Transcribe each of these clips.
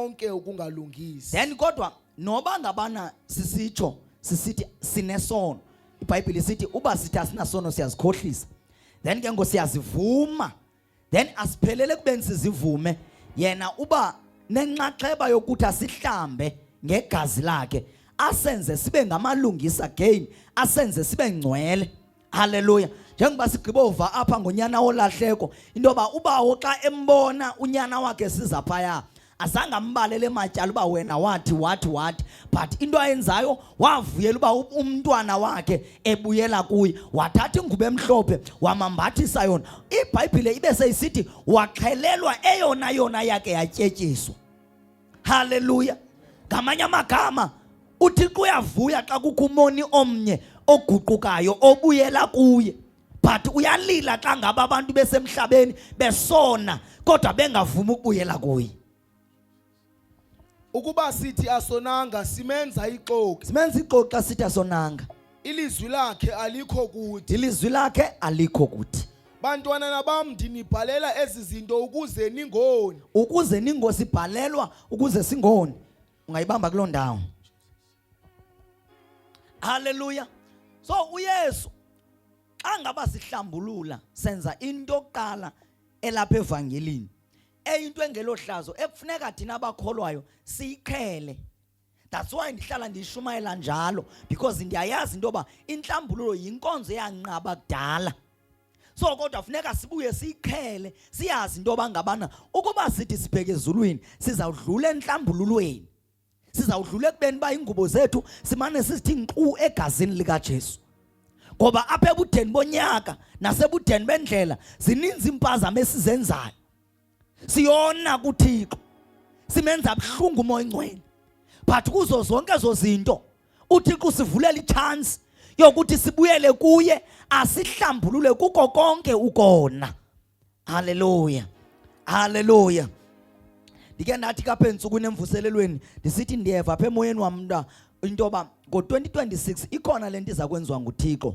konke ukungalungisi then kodwa noba ngabana sisitsho sisithi sinesono ibhayibhile sithi uba sithi asinasono siyazikhohlisa then ke ngo siyazivuma then asiphelele kubeni sizivume yena uba nenxaxheba yokuthi asihlambe ngegazi lakhe asenze sibe ngamalungisa again asenze sibe ngcwele Haleluya. Njengoba sigqibova apha ngonyana wolahleko into yoba ubawo xa embona unyana wakhe siza phaya azange ambalele matyala uba wena wathi wathi wathi but into ayenzayo wavuyela uba umntwana wakhe ebuyela kuye wathatha ingubo emhlophe wamambathisa yona ibhayibhile ibe seyisithi waxhelelwa eyona yona yakhe yatyetyiswa Haleluya. Ngamanye amagama uThixo uyavuya xa kukho umoni omnye oguqukayo obuyela kuye. But uyalila xa ngaba abantu besemhlabeni besona kodwa bengavumi ukubuyela kuye. Ukuba sithi asonanga simenza ixoki. Simenza ixoki xa sithi asonanga. Ilizwi lakhe alikho kuthi. Ilizwi lakhe alikho kuthi. Bantwana nabam ndinibhalela ezi zinto ukuze ningoni. Ukuze ningosibhalelwa ukuze singoni. Ungayibamba kuloo ndawo. Hallelujah. So uYesu xa ngaba sihlambulula senza into yokuqala elapha evangelini eyinto engelohlazo ekufuneka thina abakholwayo siyiqhele that's why ndihlala ndiyishumayela njalo because ndiyayazi into yoba intlambululo yinkonzo eyanqaba kudala so kodwa funeka sibuye siyiqhele siyazi into yoba ngabana ukuba sithi sibheke ezulwini sizawudlula entlambululweni sizawudlula ekubeni uba iingubo zethu simane sizithi nkqu egazini likajesu ngoba apha ebudeni bonyaka nasebudeni bendlela zininzi iimpazamo esizenzayo siyona kuthixo simenza buhlungu umoya ingcwele but kuzo zonke ezo zinto uthixo usivulela itshansi yokuthi sibuyele kuye asihlambulule kuko konke ukona haleluya haleluya ndike ndathi kapha entsukwini emvuselelweni ndisithi ndiyeva apha emoyeni wam mnta into yoba ngo-2026 ikhona le nto iza kwenziwa nguthixo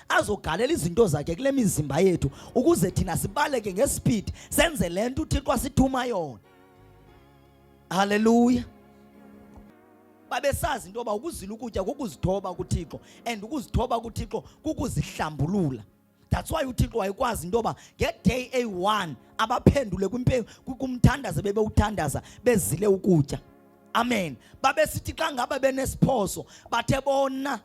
azogalela izinto zakhe kule mizimba yethu ukuze thina sibaleke ngesipidi senze le nto uthixo asithuma yona haleluya babesazi into yoba ukuzila ukutya kukuzithoba kuthixo and ukuzithoba kuthixo kukuzihlambulula that's why uthixo wayekwazi into yoba ngeday eyi-one abaphendule kumthandaza bebewuthandaza bezile ukutya amen babesithi xa ngaba benesiphoso bathe bona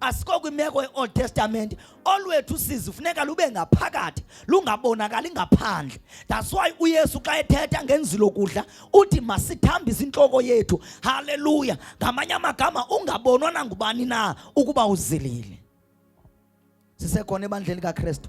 asiko kwimeko ye-old testament olwethu usizi funeka lube ngaphakathi lungabonakali ngaphandle that's why uyesu xa ethetha ngenzilo kudla uthi masithambise intloko yethu halleluya ngamanye amagama ungabonwa nangubani na ukuba uzilile sisekhona ebandleni kakristu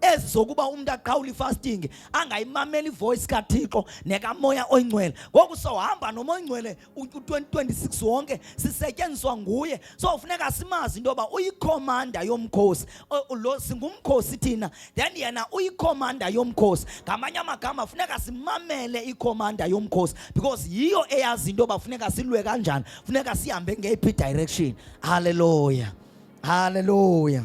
ezi zokuba umntu aqhawule ifasting angayimameli ivoice kathixo nekamoya oyingcwele ngoku sohamba noma oyingcwele u-2026 wonke sisetyenziswa nguye so funeka simazi into yoba uyikhomanda yomkhosi lo singumkhosi thina then yena uyikhomanda yomkhosi ngamanye amagama funeka simamele ikhomanda yomkhosi because yiyo eyazi into yoba funeka silwe kanjani funeka sihambe ngeyiphi direction halleluya halleluya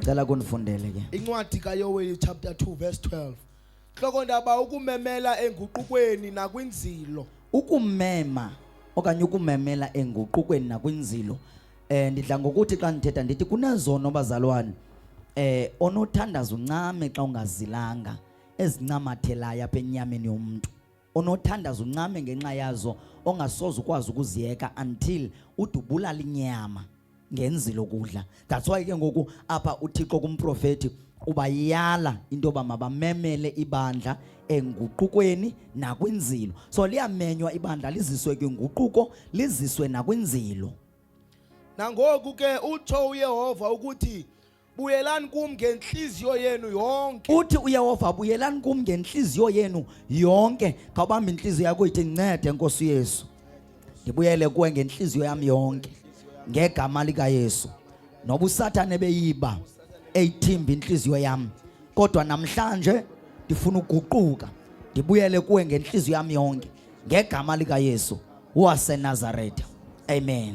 Cela kunifundele ke. Incwadi kaYoweli chapter 2 verse 12. Hloko ndaba ukumemela enguqukweni nakwinzilo. Ukumema okanye ukumemela enguqukweni nakwinzilo. Eh ndidla ngokuthi xa ndithetha ndithi kunezono bazalwane. Eh onothandaza uncame xa ungazilanga ezincamathelayo apha enyameni yomuntu. onothandaza uncame ngenxa yazo ongasoze ukwazi ukuziyeka until udubulala inyama ngenzi lokudla that's why ke ngoku apha uthixo kumprofeti ubayala into yoba mabamemele ibandla enguqukweni nakwinzilo so liyamenywa ibandla liziswe kwinguquko liziswe nakwinzilo nangoku ke utsho uyehova ukuthi buyelani kum ngentliziyo yenu yonke uthi uyehova buyelani kum ngentliziyo yenu yonke khawubamba intliziyo yakho ithi ncede nkosi yesu ndibuyele kuwe ngentliziyo yam yonke ngegama likayesu noba usathane beyiba eyithimba intliziyo yam kodwa namhlanje ndifuna uguquka ndibuyele kuwe ngentliziyo yam yonke ngegama likayesu wasenazaretha amen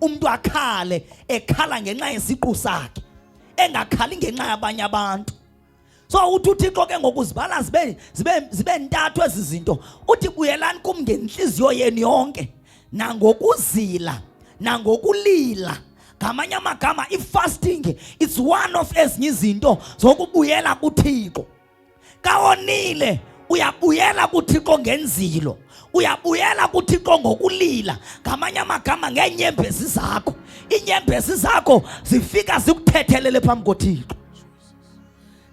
umntu akhale ekhala ngenxa yesiqu sakhe engakhali ngenxa yabanye abantu so uthi uthixo ke ngoku zibala zibe zibe zibe ntathu ezi zinto uthi buyelani kum ngentliziyo yenu yonke nangokuzila nangokulila ngamanye amagama i-fasting it's one of ezinye izinto zokubuyela kuthixo kawonile uyabuyela kuthixo ngenzilo uyabuyela kuthixo ngokulila ngamanye amagama ngeenyembezi zakho iinyembezi zakho zifika zikuthethelele phambi kothixo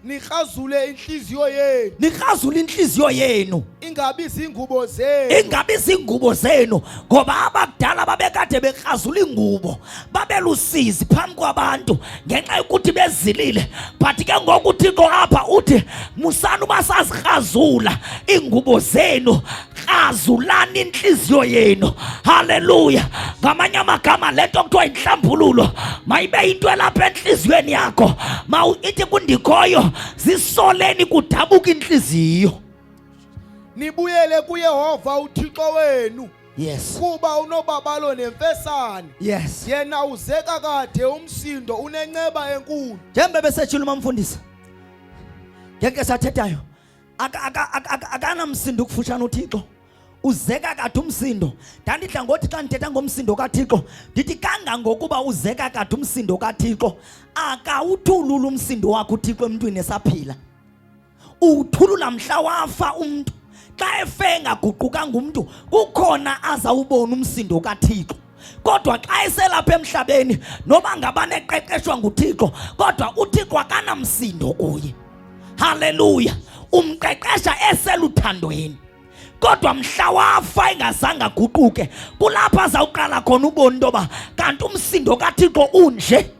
nirhazule inhliziyo yenu nirhazule inhliziyo yenu ingabi zingubo zenu ingabi zingubo zenu ngoba abakudala babekade berhazula iingubo babelusizi phambi kwabantu ngenxa yokuthi bezilile but ke ngoku uthixo apha uthi musani uba sazikrazula iingubo zenu krazulani intliziyo yenu halleluya ngamanye amagama le nto kuthiwa yintlambululo mayibe yinto elapha entliziyweni yakho ma ithi kundikhoyo zisoleni kudabuka intliziyo nibuyele kuyehova uthixo wenu yes kuba unobabalo nemfesane yes yena uzeka kade umsindo unenceba enkulu njembe besetshula umamfundisi ngeke sathethayo akanamsindo ukufutshana uthixo uzeka kade umsindo ndandidla ngothi xa ndithetha ngomsindo kathixo ndithi kangangokuba uzeka kade umsindo kathixo akawuthulula umsindo wakho uthixo emntwini esaphila uthulula mhla wafa umntu xa efe engaguqukanga umntu kukhona azawubona umsindo kathixo kodwa xa eselapha emhlabeni noba ngabane eqeqeshwa nguthixo kodwa uthixo akanamsindo kuye haleluya umqeqesha eseluthandweni kodwa mhla wafa engazange aguquke kulapho azawuqala khona ubona into yoba kanti umsindo kathixo unje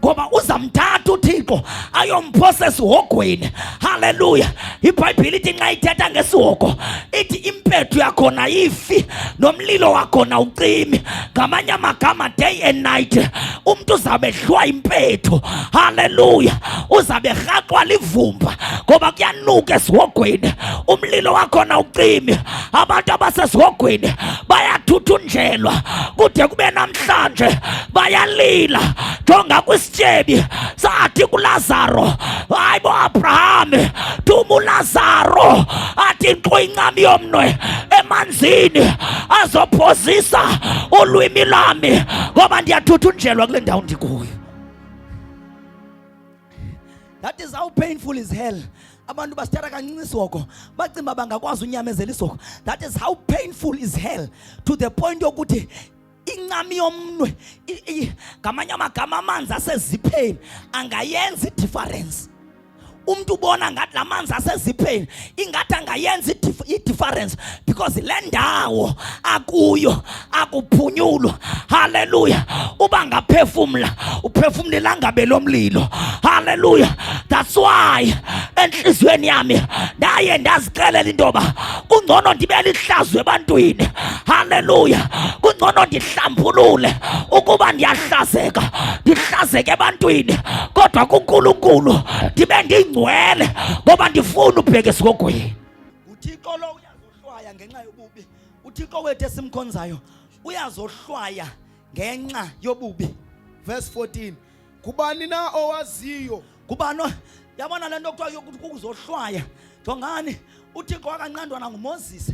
ngoba uzamthatha uthixo ayomphosa esihogweni halleluya ibhayibhile ithi nxa ithetha ngesihogo ithi impethu yakhona ifi nomlilo wakhona ucimi ngamanye amagama day and night umntu uzawube ehlwa impethu halleluya uzawube erhaxwa livumba ngoba kuyanuka esihogweni umlilo wakhona ucimi abantu abasesihogweni bayathuthunjelwa kude kube namhlanje bayalila jonga kwisityebi sathi kulazaro hayi bo abraham thuma ulazaro athi nkqo incam yomnwe emanzini azophozisa ulwimi lami ngoba ndiyathuthunjelwa kule ndawo ndikuyo That is how painful is hell. Abantu basithatha kancinci isoko bacimba bangakwazi unyamezela isoko. That is how painful is hell to the point yokuthi incami yomnwe ngamanye amagama amanzi asezipheni angayenza idifference. Umntu ubona ngathi la manzi asezipheni ingathi angayenza idiference because le ndawo akuyo akuphunyulwa haleluya uba ngaphefumla uphefumlela ngabe lo mlilo haleluya that's why enhliziyweni yami ndaye ndazixelela into yoba kungcono ndibe lihlazo ebantwini haleluya kungcono ndihlambulule ukuba ndiyahlazeka ndihlazeke ebantwini kodwa kunkulunkulu ndibe ndingcwele ngoba ndifuna ubheke esigogweni uthixo lo uyazohlwaya ngenxa yobubi uthixo wethu esimkhonzayo uyazohlwaya ngenxa yobubi verse 14 kubani na owaziyo kubani yabona le nto kuthiwa yokuthi kukuzohlwaya jongani uthixo wakanqandwa nangumoses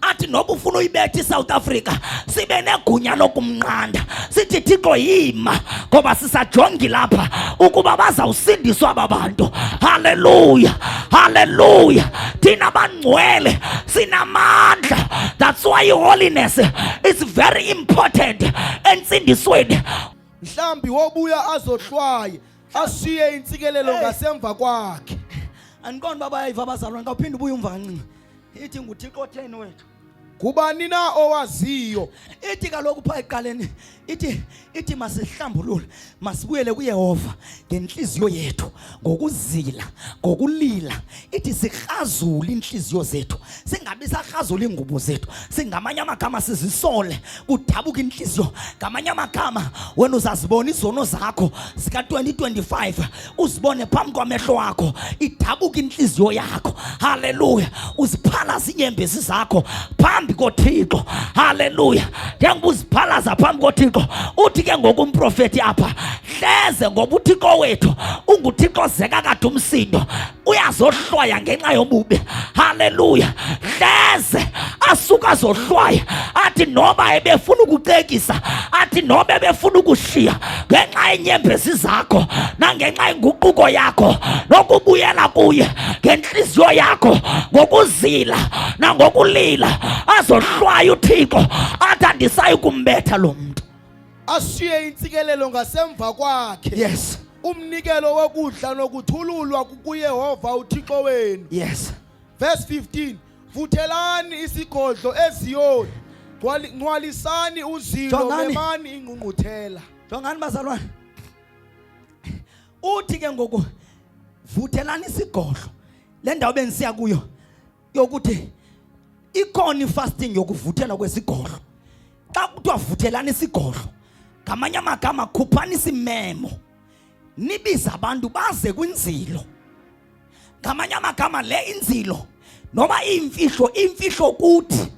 athi noba ufuna uyibetha isouth africa sibe negunya lokumnqanda sithi thixo yima ngoba sisajongi lapha ukuba bazawusindiswa aba bantu haleluya haleluya thina bangcwele sinamandla that's why holiness is very important entsindisweni mhlawumbi wobuya azohlwaye ashiye intsikelelo ngasemva kwakhe andiqondi uba bayayiva abazalwane xa uphinde ubuye umvancinci ithi nguthixo otheni wethu ngubani na owaziyo ithi kaloku phaa ekuqaleni ithi ithi masihlambulule masibuyele kuyehova ngentliziyo yethu ngokuzila ngokulila ithi sikrazule iintliziyo zethu singabi sakrazula iingubo zethu singamanye amagama sizisole kudabuka intliziyo ngamanye amagama wena uzazibona izono zakho zika-2025 uzibone phambi kwamehlo wakho idabuka intliziyo yakho haleluya uziphalaza iinyembezi zakho phambi kothixo haleluya njengoba uziphalaza phambi kothixo uthi ke ngoku umprofeti apha hleze ngoba uthixo wethu unguthixo ozeka kade umsindo uyazohlwaya ngenxa yobubi haleluya hleze asuka azohlwaya athi noba ebefuna ukucekisa athi noba ebefuna ukushiya ngenxa yenyembezi zakho nangenxa yenguquko yakho nokubuyela kuye ngentliziyo yakho ngokuzila nangokulila azohlwaya uthixo athi andisayi kumbetha lo mntu ashiye intsikelelo ngasemva kwakhe yes umnikelo wokudla nokuthululwa kukuyehova uthixo wenu yes verse 15 vuthelani isigodlo eziyoni Ngcwali- ngcwalisani uzilo Jongani. memani ingqungquthela jongani bazalwane uthi ke ngoku vuthelani isigodlo le ndawo bendisiya kuyo yokuthi ikhona ifasting yokuvuthela kwesigodlo xa kuthiwa vuthelani isigodlo ngamanye amagama khuphani isimemo nibize abantu baze kwinzilo ngamanye amagama le inzilo noba iimfihlo iimfihlo kuthi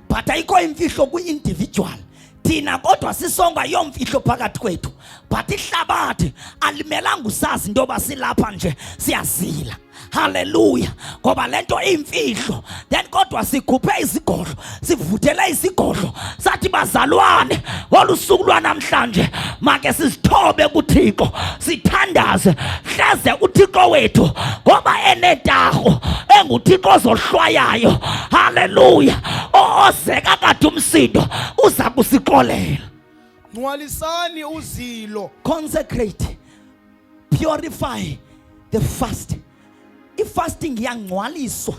but ayikho imfihlo kwi-individual thina kodwa sisonga yomfihlo phakathi kwethu but ihlabathi alimelanga usazi into yoba silapha nje siyazila haleluya ngoba le nto iyimfihlo then kodwa sikhuphe izigodlo sivuthele izigodlo sathi bazalwane ngolu suku lwanamhlanje make sizithobe kuthixo sithandaze hleze uthixo wethu ngoba enetarho enguthixo ozohlwayayo haleluya ozeka kade umsindo uza kusixolela nqwalisani uzilo consecrate purify the fast ifasting iyangcwaliswa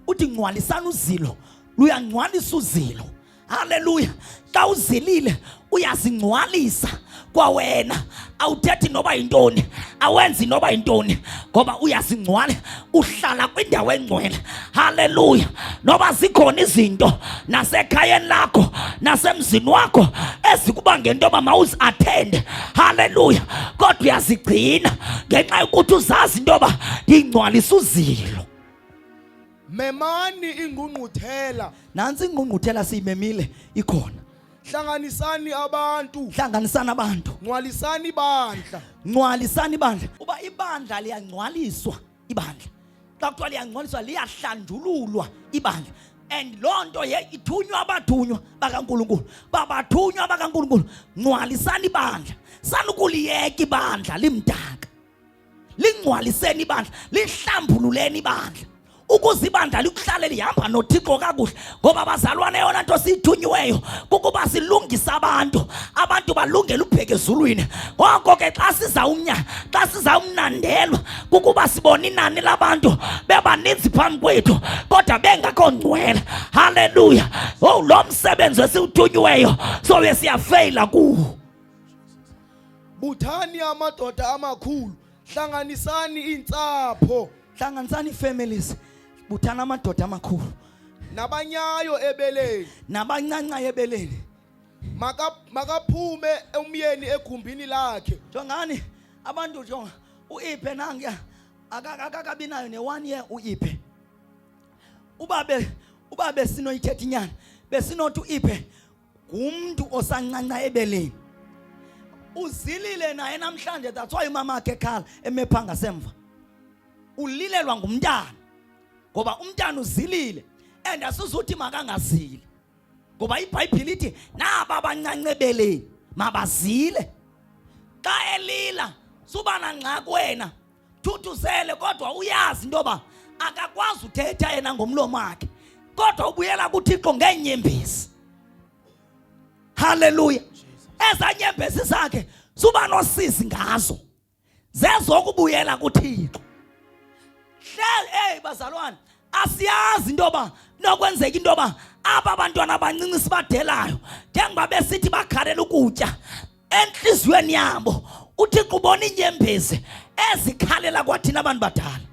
uthi ngcwalisani uzilo luyangcwalisa uzilo Haleluya! Xa uzilile uyazingcwalisa kwawena awuthethi noba yintoni awenzi noba yintoni ngoba uyazingcwala uhlala kwindawo engcwele haleluya noba zikhona izinto nasekhayeni lakho nasemzini wakho ezikuba ngento yoba mawuziathende haleluya kodwa uyazigcina ngenxa yokuthi uzazi into yoba ndingcwalisa uzilo memani ingqungquthela nantsi ingqungquthela siyimemile ikhona hlanganisani abantu hlanganisani abantu ngcwalisani ibandla ngcwalisani ibandla uba ibandla liyangcwaliswa ibandla xa kuthiwa liyangcwaliswa liyahlanjululwa ibandla and loo nto ye ithunywa abathunywa bakankulunkulu babathunywa bakankulunkulu ngcwalisani ibandla sanukuliyeka ibandla limdala lingcwaliseni ibandla lihlambululeni ibandla ukuze ibandla likuhlale lihamba nothixo kakuhle ngoba bazalwane yona nto siyithunyiweyo kukuba silungise abantu abantu balungele ubheke ezulwini ngoko ke xa sizawumnya xa sizawumnandelwa kukuba sibone inani labantu bebaninzi phambi kwethu kodwa bengakho ngcwele halleluya owu oh, lo msebenzi esiwuthunyiweyo sobe siyafeyila kuwo buthani amadoda amakhulu hlanganisani iintsapho hlanganisani families buthani amadoda amakhulu nabanyayo ebeleni nabancanca ebeleni makaphume umyeni egumbini lakhe jongani abantu jonga uiphe nange akakabi nayo ne-one year uiphe ubabe ubabe sinoyithetha inyana besinothi uiphe ngumntu osancanca ebeleni uzilile naye namhlanje that's why umama wakhe ekhala emepha ngasemva ulilelwa ngumntana ngoba umntana uzilile and asizuthi makangazili ngoba ibhayibhile ithi naba abancanca ebeleni mabazile xa elila suba nangxaki wena thuthuzele kodwa uyazi into yoba akakwazi uthetha yena ngomlomo wakhe kodwa ubuyela kuthixo ngeenyembezi halleluya ezanyembezi zakhe suba nosizi ngazo zezokubuyela kuthixo hlel eyi bazalwane asiyazi into yoba nokwenzeka into yoba aba bantwana abancinci sibadelayo njengoba besithi bakhalela ukutya entliziyweni yabo uthixo ubona iinyembezi ezikhalela kwathina abantu badala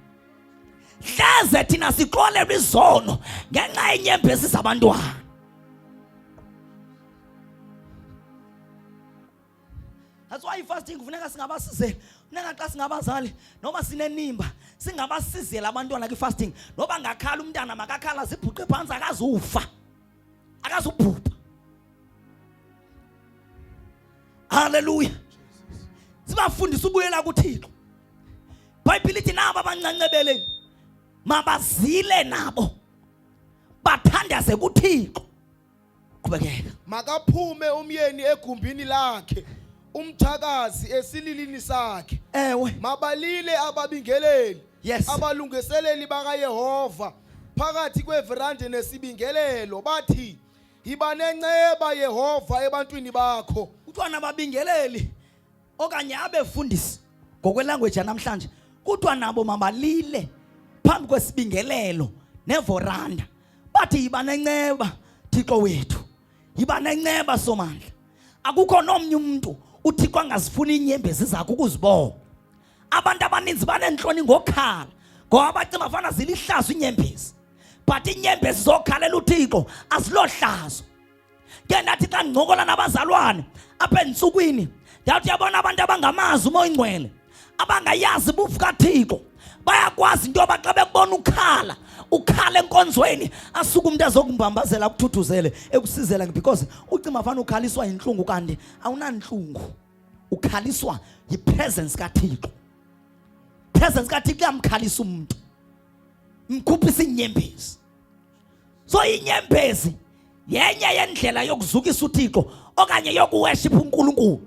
hleze thina sixolelwa izono ngenxa yenyembezi zabantwana that's why ifasting kufuneka singabasizeli funeka xa singabazali noba sinenimba singabasizeli abantwana kwi-fasting noba ngakhala umntana makakhala zibhuqe phantsi akazufa akazubhubha. Haleluya. Sibafundisa ubuyela kuThixo. Bhayibhile ithi nabo abancancebeleni mabazile nabo bathandaze kuThixo. Qhubekeka. Makaphume umyeni egumbini lakhe. umthakazi esililini sakhe ewe mabalile ababingeleli yes abalungiseleli bakayehova phakathi kweverande nesibingelelo bathi yiba nenceba yehova ebantwini bakho kuthiwa nababingeleli okanye abefundisi ngokwelanguage yanamhlanje kuthiwa nabo mabalile phambi kwesibingelelo nevoranda bathi yiba nenceba thixo wethu yiba nenceba somandla akukho nomnye umntu uthixo angazifuni iinyembezi zakho ukuzibona abantu abaninzi baneentloni ngokhala ngoba bacinga bafana zilihlazo iinyembezi but iinyembezi zokhalela uthixo azilohlazo ke ndathi xa ndincokola nabazalwane apha entsukwini ndawuthi yabona abantu abangamazi umoya ingcwele abangayazi bufu kaThixo bayakwazi into yoba xa bekubona ukhala ukhala enkonzweni asuke umntu ezokumbambazela akuthuthuzele ekusizela because ucima fana ukhaliswa yintlungu kanti awunantlungu ukhaliswa yipresence kathixo presence kathixo iyamkhalisa umntu mkhupha isinyembezi so inyembezi yenye yendlela yokuzukisa uthixo okanye yokuweshipha unkulunkulu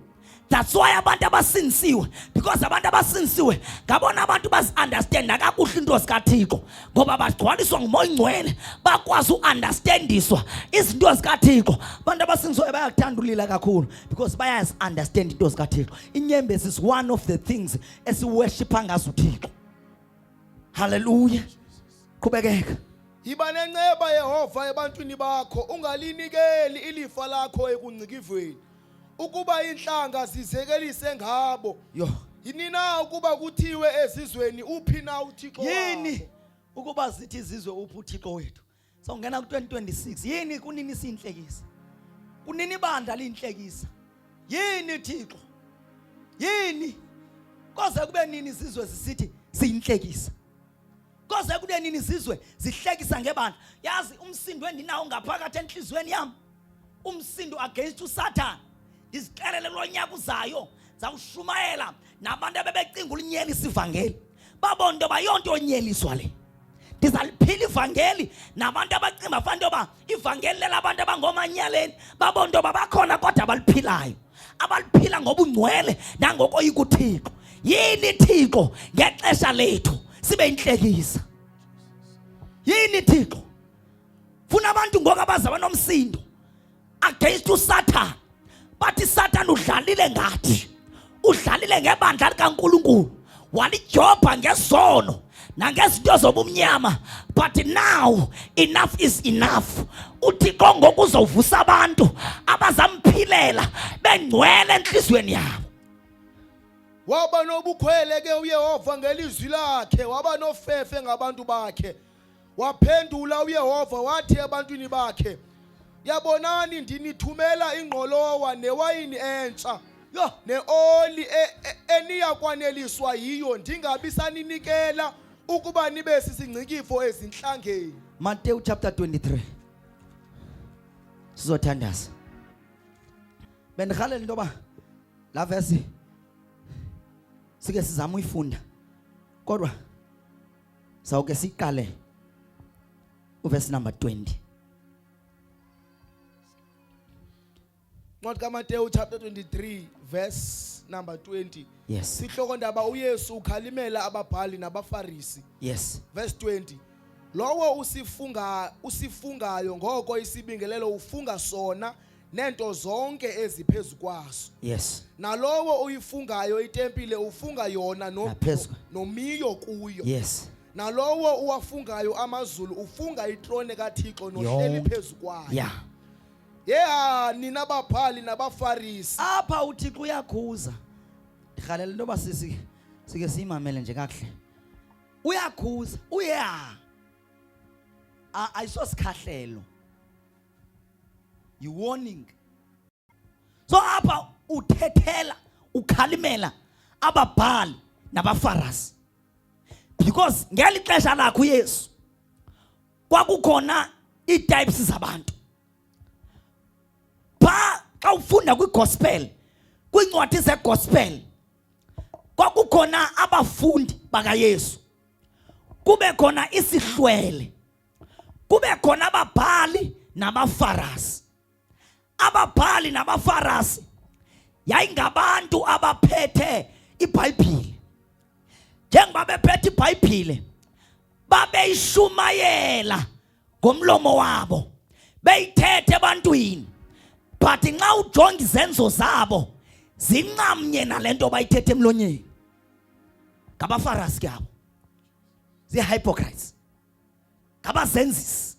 that's why abantu abasinisiwe because abantu abasinisiwe ngabona abantu bazi-understanda kakuhle into zikathixo ngoba bagcwaliswa ngumoya ingcwele bakwazi u-understandiswa izinto zikathixo abantu abasinisiwe bayakuthanda ulila kakhulu because bayazi-understand into zikathixo inyembezi is one of the things esiweshipha ngazo uthixo Hallelujah. Qhubekeka. Yiba nenceba Yehova ebantwini bakho, ungalinikeli ilifa lakho ekungcikivweni. Ukuba inhlanga zizekelise ngabo. Yho. Yini na ukuba kuthiwe ezizweni uphi na uThixo wakho? Yini ukuba zithi izizwe uphi uThixo wethu? So ngena ku-2026 yini kunini siyinhlekisa? Kunini ibandla liyinhlekisa? Yini Thixo? Yini? Koze kube nini izizwe zisithi siyinhlekisa? Koze kube nini izizwe zihlekisa ngebandla? Yazi umsindo endinawo ngaphakathi enhlizweni yami. Umsindo against uSathane. ndizixelele kulo nyaka uzayo zawushumayela nabantu abebecinga ulinyelisa ivangeli babona into yoba yonto onyeliswa le ndizaliphila ivangeli nabantu abacinga bafana into yoba ivangeli lelabantu abangoomanyaleni babona into yoba bakhona kodwa abaliphilayo abaliphila ngobungcwele nangokoyi kuthixo yini thixo ngexesha lethu sibe intlekisa yini thixo funa abantu ngoku abaza banomsindo against uSatan bathi Satan udlalile ngathi udlalile ngebandla likaNkuluNkulu walijobha ngesono nangezinto zobumnyama but now enough is enough uthixo ngoku uzovusa abantu abazamphilela bengcwele entliziyweni yabo waba nobukhwele ke uyehova ngelizwi lakhe waba nofefe ngabantu bakhe Waphendula uYehova wathi ebantwini bakhe, Yabonani ndinithumela ingqolowa newayini entsha yho neoli e, e, eniyakwaneliswa yiyo ndingabi saninikela ukuba nibe sisingcikifo ezinhlangeni. Mateyu chapter 23. Sizothandaza. Bendihalela into yoba la verse sike sizama uyifunda kodwa sawuke siqale uverse number 20 Ncwadi kaMateyu chapter 23 verse number 20 yes sihloko ndaba uYesu ukhalimela ababhali nabafarisi yes verse 20 lowo usifunga usifungayo ngoko isibingelelo ufunga sona neento zonke eziphezu kwaso yes nalowo uyifungayo itempile ufunga yona no, Naphezu. nomiyo kuyo yes nalowo uwafungayo amazulu ufunga itrone kathixo nohleli Yonke. phezu kwayo ya yeha nina baphali nabafarisi apha uthixo uyakhuza ndirhalela into yoba sisi sike siyimamele nje kakuhle uyakhuza uyeha ayisosikhahlelo You warning. So hapa uthethela ukhalimela ababhali nabafarasi because ngeli xesha lakho uyesu kwakukhona ii-types zabantu pha xa ufunda kwigospel kwiincwadi zegospel kwakukhona abafundi bakayesu kube khona isihlwele kube khona ababhali nabafarasi ababhali nabafarasi yayingabantu abaphethe ibhayibhile njengoba bephethe ibhayibhile babeyishumayela ngomlomo wabo beyithethe ebantwini but nxa ujonga izenzo zabo zincamnye nale nto bayithethe emlonyeni ngabafarasi ke abo ziihypocrites ngabazenzisi.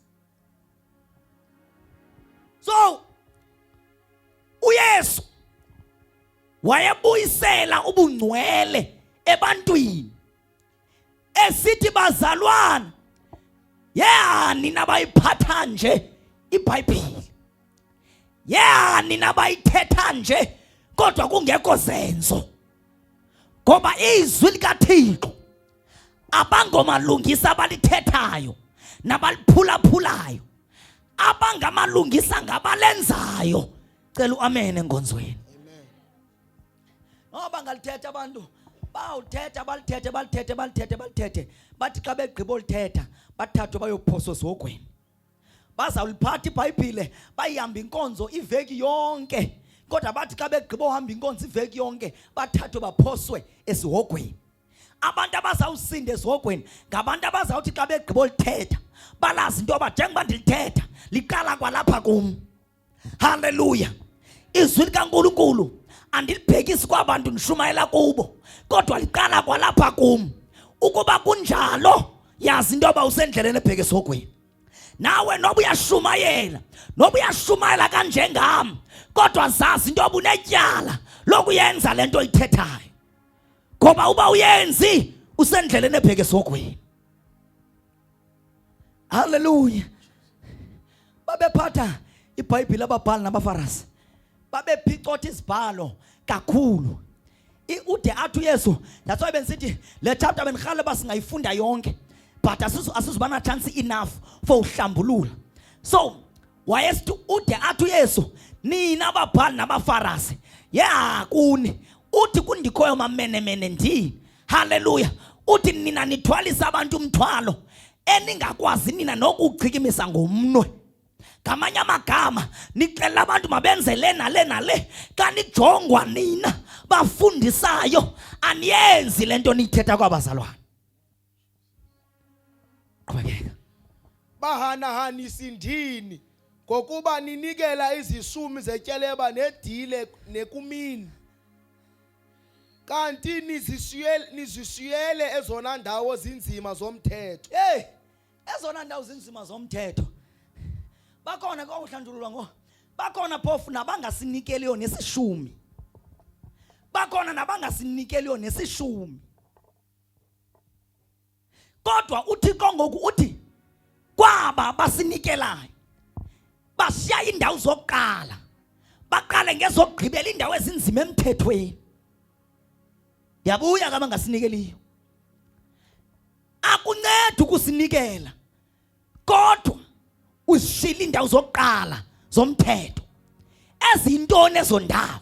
So uYesu wayebuyisela ubungcwele ebantwini esithi bazalwana yehani nabayiphatha nje ibhayibhile yehani nabayithetha nje kodwa kungekho zenzo ngoba izwi likathixo abangomalungisa abalithethayo nabaliphulaphulayo abangamalungisa ngabalenzayo cela uamene enkonzweni noba oh, ngalithetha abantu bawuthetha balithethe balithethe balithethe balithethe bathi xa begqiba olithetha bathathwe bayophosa osogweni bazawuliphatha ibhayibhile bayihambe inkonzo iveki yonke kodwa bathi xa begqiba ohamba inkonzo iveki yonke bathathwe baphoswe esihogweni abantu abazawusinda ezihogweni ngabantu abazawuthi xa begqibo lithetha balazi into yoba njengoba ndilithetha liqala kwalapha kum halleluya izwi likankulunkulu andilibhekisi kwabantu ndishumayela kubo kodwa liqala kwalapha kum ukuba kunjalo yazi into yoba usendleleni ebheke esihogweni nawe noba uyashumayela noba uyashumayela kanjengam kodwa zazi into yoba unetyala lokuyenza le nto oyithethayo ngoba uba uyenzi usendleleni ebheke esogweni haleluya babephatha ibhayibhile ababhali nabafarasi babephicotha izibhalo kakhulu ude athi uyesu that's why bendisithi le chapter bendirhale uba singayifunda yonke but asizuba na chance enough for uhlambulula so wayesithi ude athi uyesu nina babhali nabafarasi ya kuni uthi kundikhoyo mamenemene ndini haleluya uthi nina nithwalisa abantu umthwalo eningakwazi nina nokuchikimisa ngomnwe ngamanye amagama nixelela abantu mabenze le nale nale xa nijongwa nina bafundisayo aniyenzi le nto niyithetha kwabazalwane qhubekeka bahanahanisi ndini ngokuba ninikela izisumi zetyeleba nedile nekumini kanti nizishiyele nizishiyele ezona ndawo zinzima zomthetho hey ezona ndawo zinzima zomthetho bakhona kwakuhlanjululwa ngo bakhona phofu nabangasinikeliyo nesishumi bakhona nabangasinikeliyo nesishumi kodwa uthixo ngoku uthi kwaba basinikelayo bashiya iindawo zokuqala baqale ngezokugqibela iindawo ezinzima emthethweni yabuya kama ngasinikeliyo akunceda ukusinikela kodwa uzishila iindawo zokuqala zomthetho ezintoni ezo ndawo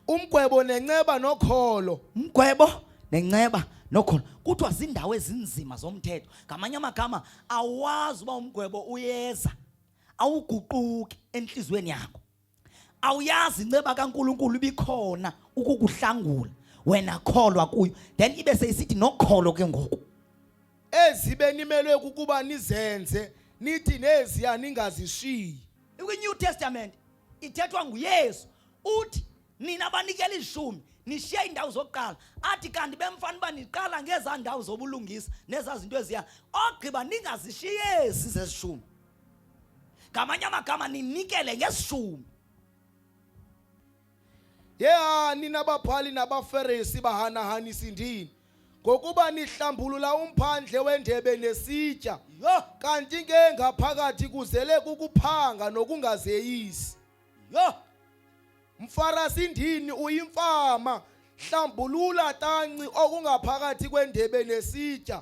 umgwebo nenceba nokholo umgwebo nenceba nokholo kuthiwa ziindawo ezinzima zomthetho ngamanye amagama awazi uba umgwebo uyeza awuguquki entliziyweni yakho awuyazi inceba kaNkuluNkulu ibikhona ukukuhlangula wena kholwa kuyo then ibe seyisithi nokholo ke ngoku ezibe nimelwe ukuba nizenze nithi neziya ningazishiyi ikwi-new testament ithethwa nguyesu uthi nina banikela izishumi nishiye iindawo zokuqala athi kanti bemfana uba niqala ngezaa ndawo zobulungisa nezaa zinto eziya ogqiba ningazishiyesi zezishumi ngamanye amagama ninikele ngesishumi yeha nina babhali nabaferisi bahanahanisi ndini ngokuba nihlambulula umphandle wendebe nesitya yho kanti ke ngaphakathi kuzele kukuphanga nokungazeyisi yho mfarasi ndini uyimfama hlambulula tanci okungaphakathi kwendebe nesitya